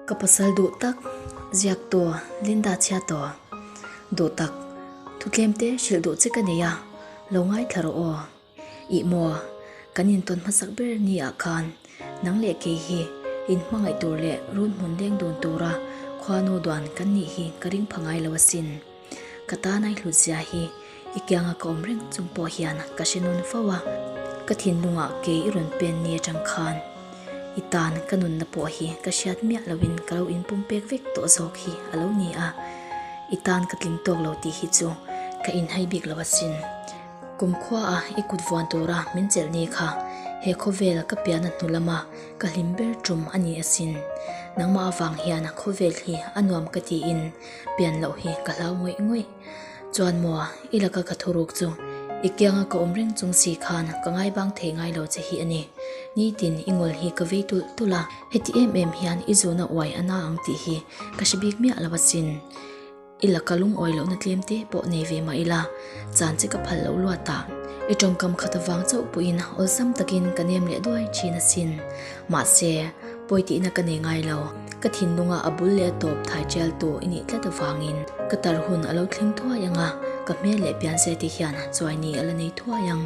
Ka pasal duh tak ziak tawh Linda chhia tawh duh tak thutlem te hrilh duh che ka nei a lo ngai thla rawh aw i maw kan intawn hmasak ber ni ah khan nang leh kei hi in hmangaih tur leh run hmun leng dun tura khua no duan kan nih hi ka ring pha ngai lo asin. Ka tan ai hlut zia hi i kianga ka awm reng chung pawh hian ka hre nawn fo a. Ka thinlungah kei i rawn pen ni atang khan i tan ka nunna pawh hi ka hriat miah loin ka lo inpum pek vek tawh zawk hi a lo ni a. I tan ka tling tawk lo tih hi chu ka inhai bik lo asin. Kumkhua a i kut vuan tura min chelh ni kha he khawvel ka piahna hnu lama ka hlim ber ṭum a ni asin. Nangmah avang hian khawvel hi a nuam ka tiin. Pian loh hi ka hlau ngawih ngawih. Chuan maw i laka ka thuruk chu i kianga ka awm reng chung si khan ka ngaibang thei ngai lo che hi a ni. Nitin i ngawl hi ka vei tulh tulh a. Heti em em hian i zuna uai a na ang tih hi ka hre bik miah lo asin. I laka lungawi lohna tlem te pawh nei ve mah ila chan che ka phal loh luat a. I tawngkam khat avang chauh pawhin awlsam takin ka nem leh duai thin asin. Mahse. Pawi tihna ka nei ngai lo. Ka thinlunga a bul leh a tawp thai tialtu i nih tlat avangin ka tar hun a lo thleng thuai ang a, ka hmel leh pian sete hian chuaini a la nei thuai ang.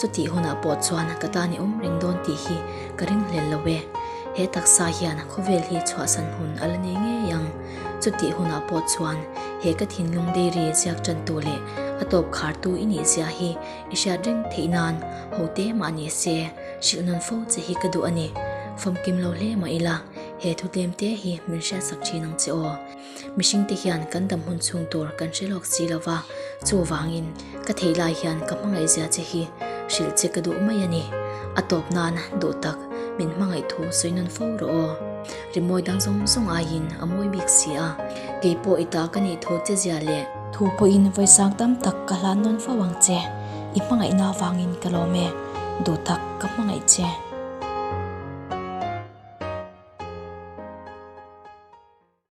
Chutih hunah pawh chuan ka tan i awm reng dawn tih hi ka ring hlel lo e. He taksa hian khawvel hi chhuahsan hun a la nei ngei ang. Chutih hunah pawh chuan he ka thinlung dairy ziak tantu leh a tawp khartu i nih zia hi i hriat reng theih nan hote mah ni se. Hrilh nawn fo che hi ka duh a ni. Famkim lo hle mah ila, he thutlem te hi min hriat sak thin ang che aw. Mihring te hian kan dam hun chhung tur kan hre lawk si lo va, chu vangin ka theih lai hian ka hmangaihzia che hi hrilh che ka duh mai a ni. A tawp nan duh tak min hmangaih thu sawi nawn fo rawh aw. Rimawi dang zawng zawng aiin a mawi bik si a. Kei pawh i tah ka nih thu che zia le. Thu pawhin vawisang tam tak ka hlan nawn fo ang che. I hmangaihna avangin ka lawm e. Duh tak ka hmangaih che.